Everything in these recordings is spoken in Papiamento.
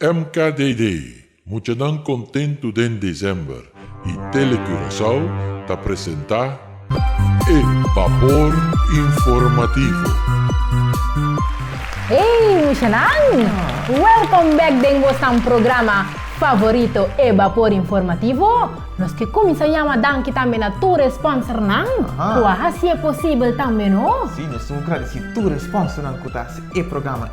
MKDD, Muchanan kontentu den December y Tele Curaçao ta presenta e Vapor Informativo. Hey muchanan! Welcome back den bosan programa favorito e Vapor Informativo. Nos ke kuminsa yama danki tambe na tur e sponsornan ku a hasi e posibel tambe no. Sí, nos ta un gradisí tur e sponsornan ku ta hasi e programa.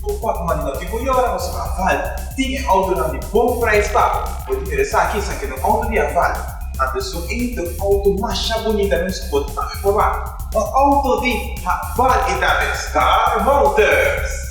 Bo por manda tin bo yora pasobra Haval tin e outonan di bon prijs baho. Bo ta mira esaki san keda un outo di Haval. A besun ei ta un outo masha bunita nos ku bo ta papia for baho. Un outo di Haval e ta mes Star Motors!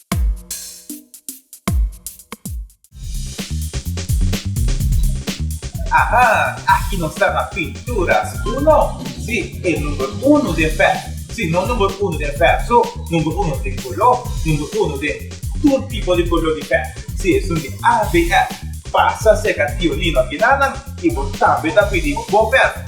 Aha! Aki nos ta na Pinturas Uno! Si, e number uno den pèp. Si, no number uno den pèp so, number uno den koló, number uno den tur tipo di koló di pèp. Si, esun di ABF. Pasa serka Tiolino Aguilarnan i bo tambe ta pidi bo pèp.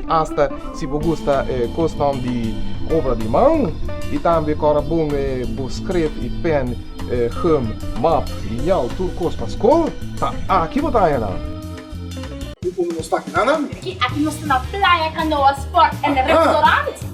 Asta si bo gusta e kustom di obra di man, i tambe kòrda bon e bo skref i pèn, gum, map, liñal, tur kos pa skol, ta aki bo ta haña nan. Ku nos ta kina nan? Aki nos ta na playa, kanoa, sport en restaurant.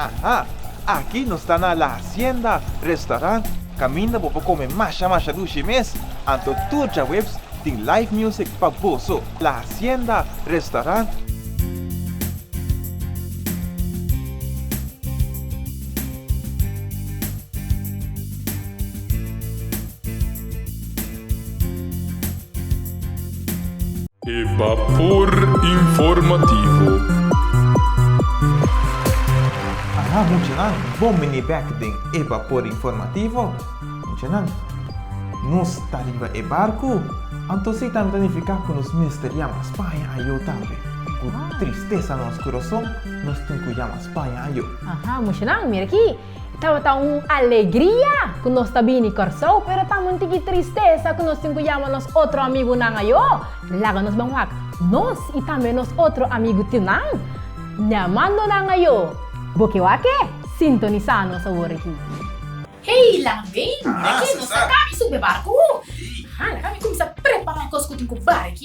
Aha! Aki nos ta na La Hacienda Restaurant, kaminda bo por kome masha masha dushi mes, anto tur djaweps tin live music pa boso. La Hacienda Restaurant. E Bapor Informativo. Aha muchanan, bon bini bek den e Bapor Informativo. Muchanan, nos ta riba e barku, anto si tambe ta nifiká ku nos mester yama Spaña ayó tambe. Ku tristesa na nos kurason, nos tin ku yama Spaña ayó. Aha muchanan, mira aki. Tabata un alegria ku nos ta bini Kòrsou, pero ta un tiki tristesa ku nos tin ku yama nos otro amigunan ayo. Laga nos ban wak nos i tambe nos otro amigu tinan neamandonan ayo. Bo ke wak-e? Sintonisá nos awor aki. Hey Lanvin, ora ke nos ta kami sumbe barku, laga mi kuminsá prepará kos ku tin ku bai.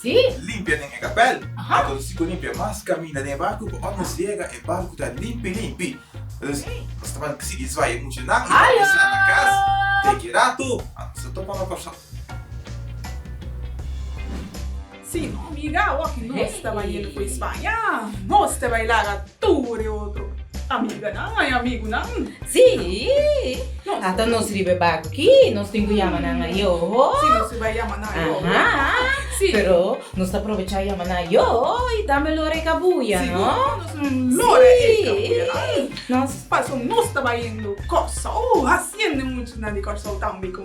Sí. Limpia den e kapèl. Aha. Ato nos tiko limpia mas kaminda den e barku pa ora nos yega e barku ta limpi limpi. Dus nos ta banta sigui zwaya mucha nan i ta almorsá na kas. Teki ratu nos ta topa no person. Sí, amiga, awor ki nos ta bai e loco España, nos te bai laga. Tur e otro amiganan a e amigunan. Sí, hasta nos riba e barco ki nos tin cu yama nan ayo. Sí, nos riba yama nan ayo. Aha, pero nos ta probecha yama nan ayo y tambe lora e cabuya, no? Sí, nos lora e cabuyanan. Pasobra nos ta bayendo Corsou, haciendo e muchanan di Corsou tambe con.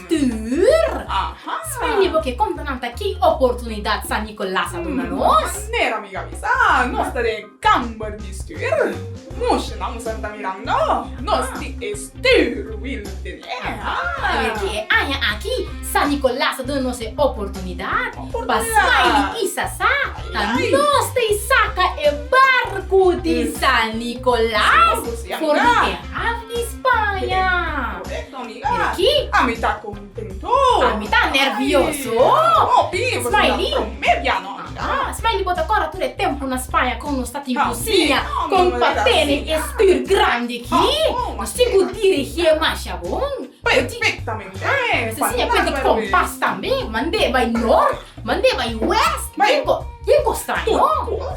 tur. Sprende bo ke konta nan ta ki oportunidat San Nicolas a duna nos. Manera mi ga bisa, nos ta den e kamber di stuur. Mush nan mester ta mirando nos di e stuur wil tene. Ki e aña aki San Nicolas ta duna nos e oportunidat pa swai di isa sa ta nos ta isaka e barku di San Nicolas for di e haf di Spaña. Aki? Ami ta contento. Ami ta nervioso. No pini bo ta prome bia no ami ta. Smiley bo ta corda tur e tempo na Spaña con nos ta tin cosiña con pa tene e stuur grandi aki. Nos tin cu dirigi e masha bon. Perfectamente. Mester siña penti compas tambe. Mande bay noord. Mande bai west. Bai ko tin kosta no.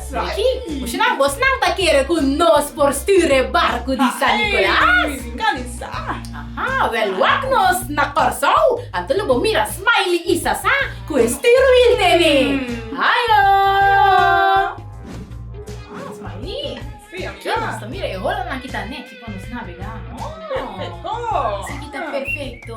Richie, kushinan bos nan ta kere ku nos por stuur e barku di San Nikolas? Ai, nan i sa. Aha, wèl wak nos na Kòrsou, anto lo bo mira Smaili i Sasá ku e stuur wilde mi. Ayo! Ah, Smaili. Si, aki. Aki nos ta mira e holonan ki ta nèkì pa nos nabegá. Oh, perfekto. Aki ta perfekto.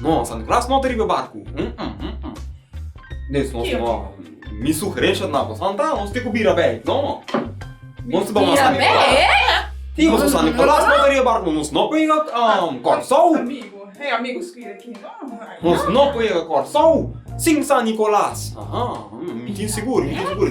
No, sa no ras nota riba e barku. Mes no si no, mi sugerensha ta na ku san ta, nos tin ku bira bek. No, nos tin bama San Nikolas. Si nos tin San Nikolas nota riba e barku no nos no por yega Kòrsou. Nos no por yega Kòrsou sin San Nikolas. Mi tin sigur, mi tin sigur.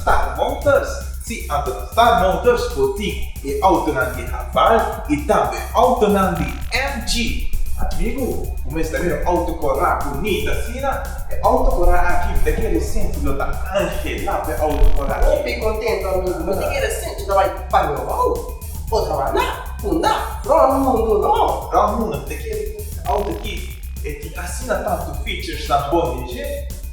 Star Motors, Si anto ta Star Motors por tin e autonan di Haval y tambe autonan di MG. Amigu, bo mester mira un auto cora bunita asina. E auto cora aki mi ta kere resente, lo ta Angela pe auto cora aki. Hopi contento amigu, mi ta kere resente ta bay pa Nogou o ta wanda, funda, rond mundo no. Rond mundo, mi ta kere e auto aki, e tin asina tanto featuresnan bon dje.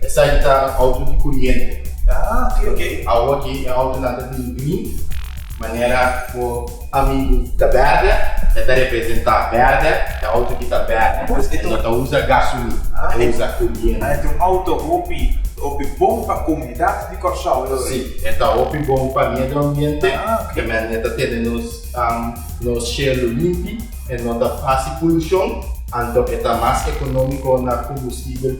Esaki ta auto di curiente. Ah ok ok. Awo aki e autonan ta bini bini manera bo amigu ta berde e ta representa berde e auto aki ta berde pues e no ta usa gasolin e usa curiente. Ah e ta un auto hopi hopi bon pa comunidad di Corsou e lo ey. Si e ta hopi bon pa medio ambiente kemen e ta tene nos nos cielo limpi e no ta haci polucion anto e ta mas economico na combustible.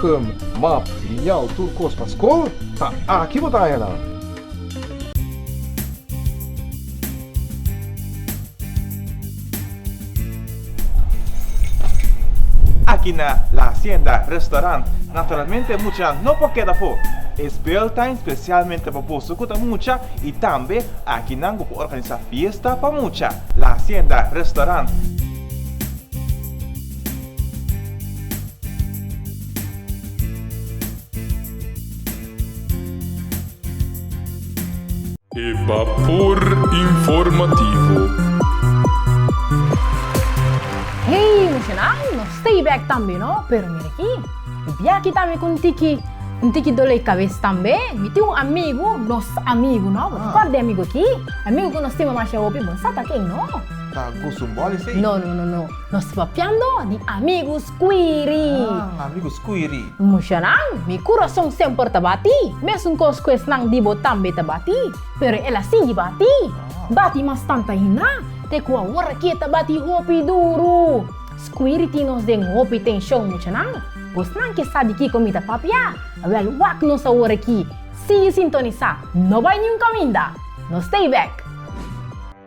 Gum, map, liñal, tur kos pa skol ta aki bo ta haña nan. Aki na La Hacienda Restaurant naturalmente mucha no por keda afó. E spel ta espesialmente pa boso ku ta mucha i tambe aki nan bo por organisá fiesta pa mucha. La Hacienda Restaurant. E Bapor Informativo. Hey Nacional, nos stay back tambe no, pero mira aki, e bia aki ta mi cu un tiki, un tiki dole cabes tambe, mi tin un amigo, nos amigo no, bo ta cord di e amigo aki, amigo cu nos stima masha hopi, bo no sa ta ken no. Ta Guzum Bolis ey? No no no no. Nos papiando di amigu scuiri. Ah, amigu scuiri. Mushanan, mi curason semper ta bati, mesuncos cu esnan di bo tambe ta bati, pero el a sigui bati, bati mas tant'ainda, te cu awor'aki'e ta bati hopi duru. Scuiri tin nos den hopi tension, mushanan. Bosnan ke sa di kico mi ta papia? Wel, wak nos awor'aki. Sigui sintonisa, no bai niun caminda! Nos stay back!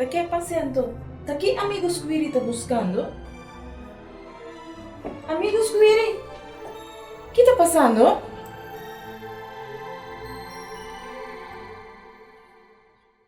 Ta ke pasiento? Ta ki amigos ku Wiri ta buskando? Amigos ku Wiri, ki ta pasando?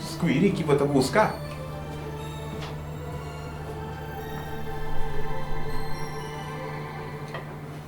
Scuiri ki bo ta busca.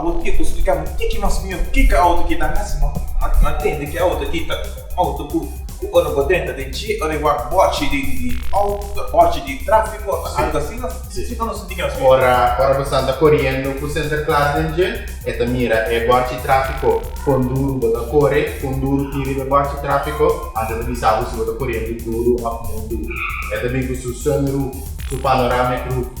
Awor tiepo di splikáme kiko mas mihó, kiko e outo ki ta hasi ma no a tende ku e outo ki ta un outo ku ora bo denta den dje ora e wòrdu bòchi di outo, bòchi di tráfiko òf algu asina. Siñor no sinti ke nos mihó. Ora bo santa koriendo ku Sinter Klaas den dje, e ta mira e bòchi tráfiko kon duru bo ta kore, kon duru tin riba e bòchi tráfiko anto e ta bisa bo si bo ta koriendo duru òf no duru. E ta bin ku su sunroof, su panoramic roof.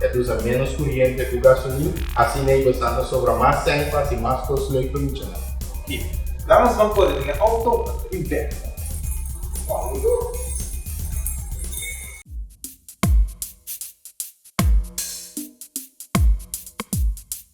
E ta usa ménos kuriente ku gasolin, asina e basta ta sobra mas sèn pa hasi mas kos lei pa lucha nan. Oke, la nos ban kore den e outo pa ta bin bèk na Bauru.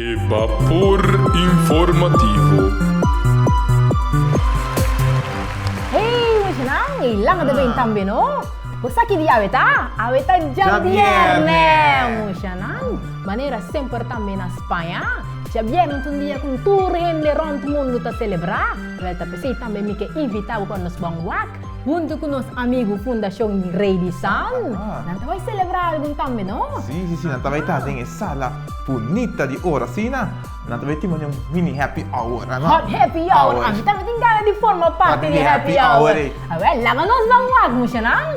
E Bapor Informativo. Hey muchanan, e langa ta bini tambe no. Bo sa ki di awe ta? Awe ta djabièrnè! Muchanan, manera semper tambe na Spaña, djabièrnè ta un dia ku tur hende rònt mundu ta selebrá. Wel ta p'esei tambe mi ke invitá bo pa nos bou un wak huntu ku nos amigu Fundashon Rei di San. Nan ta bai selebrá algun tambe, no? Sí, sí, sí, nan ta bai ta den e sala bunita di ora asina. Nan ta bai timona un mini happy hour, a no? Hot happy hour! Ami tambe tin gana di forma parti di e happy hour. Awel, laga nos bai un wak, mushanan!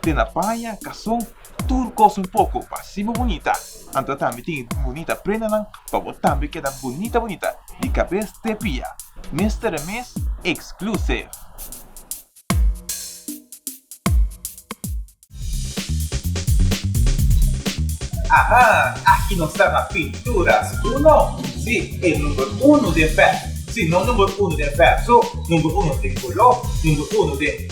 Te na paña, kason, tur kos un poko pa si bo bunita. Anto tambe tin e bunita prendanan pa bo tambe keda bunita bunita di kabes te pia. Mister e mes exclusive. Aha! Aki nos ta na Pintura su Uno? Si, e number uno den vèb. Si no number uno den vèb so, number uno den koló, number uno den.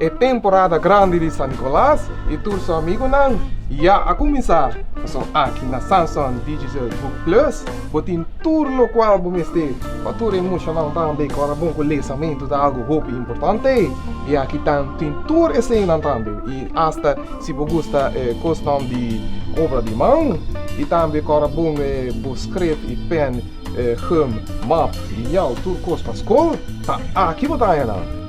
E temporada grandi di San Nicolas i tur su amigunan ya a kuminsá. Pasobra aki na Samson Digital Book Plus bo tin tur lokual bo mester. Pa tur e mushanan tambe ku a rabon ku lesamentu ta algu hopi importante. I aki ta tin tur eseinan tambe i asta si bo gusta e kosnan di obra di man. I tambe ku a rabon bo skref i pèn, gum, map, liñal tur kos pa skol ta aki bo ta haña nan.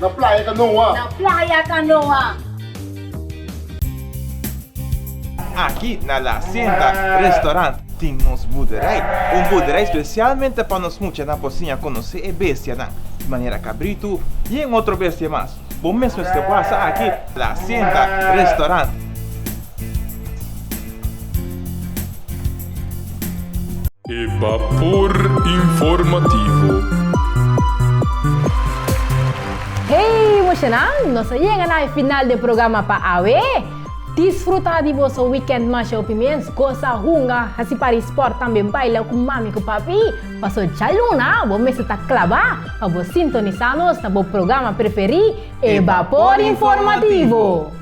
Na playa Canoa. Na playa Canoa. Aki na La Hacienda Restaurant tin nos buderij. Un buderij specialmente pa nos mucha na por siña conoce e bestianan, di manera cabrito y en otro bestia mas. Bo mesmo este wasa aki La Hacienda Restaurant. E Bapor Informativo. Hey mushenan, nos a yega na e final di e programa pa awe. Disfruta di boso weekend masha hopi mes, gosa, hunga, hasi pari sport, tambe baila ku mami ku papi. Paso djaluna bo mester ta klabá pa bo sintonisá nos na bo programa preferí, e Bapor Informativo.